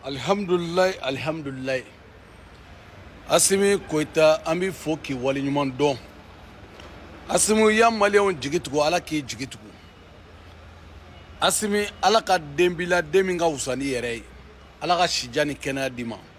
alihamudulila alihamudulila asimi koyita an b'i fo k'i waleɲuman dɔn asimi y'an maliyɛnw jigi tugu ala k'i jigi tugu asimi ala ka den b'i la den min ka wusa n'i yɛrɛ ye ala ka sijan ni kɛnɛya d'i ma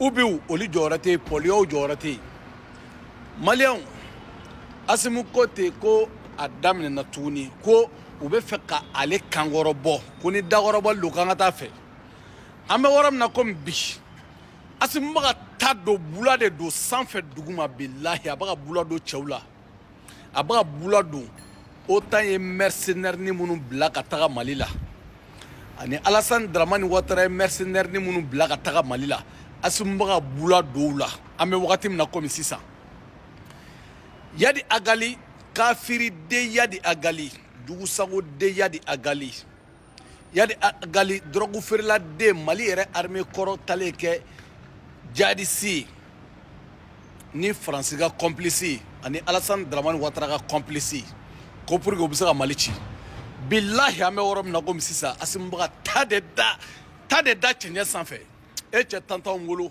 ubiw olu jɔyɔrɔ tɛ yen pɔliyaw jɔyɔrɔ tɛ yen maliyɛnw asimu ko ten ko a daminɛna tuguni ko u bɛ fɛ ka ale kan kɔrɔbɔ ko ni dakɔrɔbɔli don k'an ka t'a fɛ an bɛ yɔrɔ min na komi bi asimu bɛ ka ta don bula de don sanfɛ duguma bilahi a bɛ ka bula don cɛw la a bɛ ka bula don otan ye mɛrisenɛrini minnu bila ka taga mali la ani alasani daramani watara ye mɛrisenɛrini minnu bila ka taga mali la asimu bɛ ka bula don u la an bɛ wagati min na komi sisan yadi agali kafiri de yadi agali dugusago de yadi agali yadi agali dɔrɔgu feerela den mali yɛrɛ armée kɔrɔ taalen kɛ jadisi ni faransi ka kɔnplisi ani alasani daramani watara ka kɔnplisi ko pour que u bɛ se ka mali ci bilahi an bɛ yɔrɔ min na komi sisan asimu bɛ ka ta de da ta de da cɛncɛn sanfɛ e cɛ tantanw wolo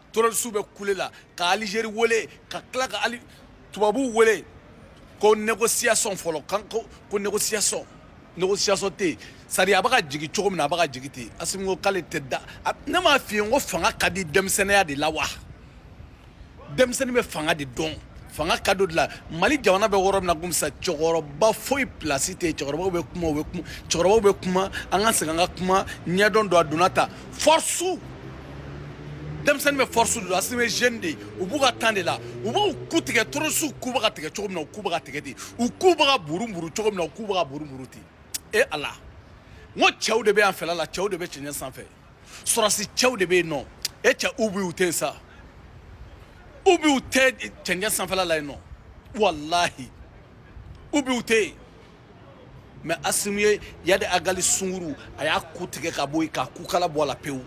terorisiw bɛ kule la ka alizeri wele ka tila ka ali tubabuw wele ko négociation fɔlɔ kan ko ko négociation négociation tɛ yen sari a bɛ ka jigin cogo min na a bɛ ka jigin ten asimi ko k'ale tɛ da ne m'a f'i ye n ko fanga ka di denmisɛnninya de la wa denmisɛnnin bɛ fanga de dɔn fanga ka d'o de la mali jamana bɛ yɔrɔ min na komi sa cɛkɔrɔba foyi pilasi tɛ yen cɛkɔrɔbaw bɛ kuma u bɛ kuma cɛkɔrɔbaw bɛ kuma an ka segin an ka kuma ɲɛdɔn don a donna ta force denmisɛnnin bɛ force de dɔn asimi bɛ jeune de ye u b'u ka temps de la u b'u ku tigɛ terorisiw ku bɛ ka tigɛ cogo min na u ku bɛ ka tigɛ ten u ku bɛ ka buruburu cogo min na u ku bɛ ka buruburu ten e ala n ko cɛw de bɛ yan fɛla la cɛw de bɛ cɛncɛn sanfɛ sɔrɔsi cɛw de bɛ yen nɔ e cɛ ubiw tɛ yen sa ubiw tɛ cɛncɛn sanfɛla la yen nɔ walahi ubiw tɛ yen mɛ asimu ye yadi agali sunguru a y'a ku tigɛ ka bɔ yen k'a kukala bɔ a la pewu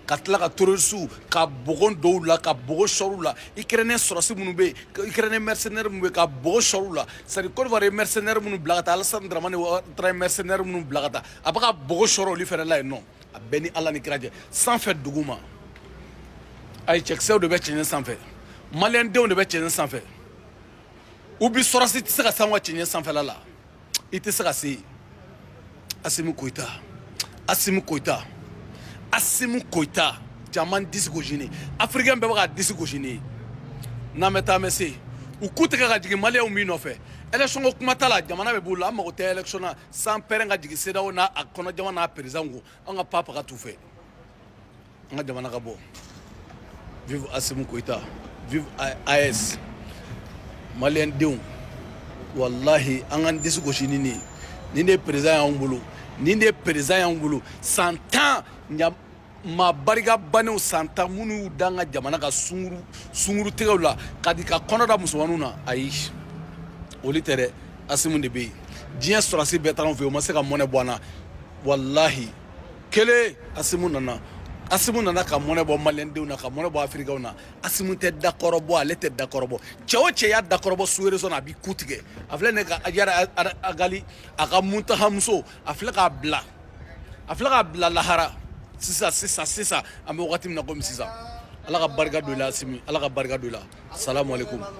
ka tila ka terorisiw ka bɔgɔ don u la ka bɔgɔ sɔrɔ u la ikɛrɛnɛ sɔrɔsi minnu bɛ yen ikɛrɛnɛ mɛrisenɛri minnu bɛ yen ka bɔgɔ sɔrɔ u la sari kodiwari ye mɛrisenɛri minnu bila ka taa alasani daramani watara ye mɛrisenɛri minnu bila ka taa a bɛ ka bɔgɔ sɔrɔ olu fɛnɛ la yen nɔ a bɛɛ ni ala ni kira cɛ sanfɛ duguma ayi cɛkisɛw de bɛ cɛncɛn sanfɛ maliyɛndenw de bɛ cɛncɛn sanfɛ u bi sɔrɔsi tɛ se ka s'anw ka cɛncɛn sanfɛla la i tɛ se ka se yen asimu koyita asimu koyita asimu koyita caman disi gosi ne afirikɛn bɛɛ bɛ ka disi gosi n'e ye n'an bɛ taa an bɛ se u ku tigɛ ka jigin maliyɛnw min nɔfɛ élection ko kuma t'a la jamana bɛ b'u la an mago tɛ élection na san pɛrɛn ka jigin CEDEAO n'a a kɔnɔ jamana perezan ko an ka papa ka t'u fɛ An ka jamana ka bɔ vive Assimi Goïta vive AES maliyɛndenw walahi an k'an disi gosi ni nin ye nin de ye perezan y'anw bolo nin de ye perezan y'anw bolo san tan ɲa maa barika bannenw san tan minnu y'u da an ka jamana ka sunguru sungurutigɛw la ka di ka kɔnɔ da musomaninw na ayi olu tɛ dɛ asimu de bɛ yen diɲɛ sɔrɔsi bɛɛ taara an fɛ yen o ma se ka mɔnɛ bɔ an na walahi kelen asimu nana asimu nana ka mɔnɛ bɔ maliyɛndenw na ka mɔnɛ bɔ afirikɛnw na asimu tɛ dakɔrɔbɔ ale tɛ dakɔrɔbɔ cɛ o cɛ y'a dakɔrɔbɔ sur réseau na a b'i ku tigɛ a filɛ ne ka ajara agali a ka muntahamuso a filɛ k'a bila a filɛ k'a bila lahara sisan sisan sisan an bɛ wagati min na komi sisan ala ka barika don i la asimi ala ka barika don i la salamu aleykum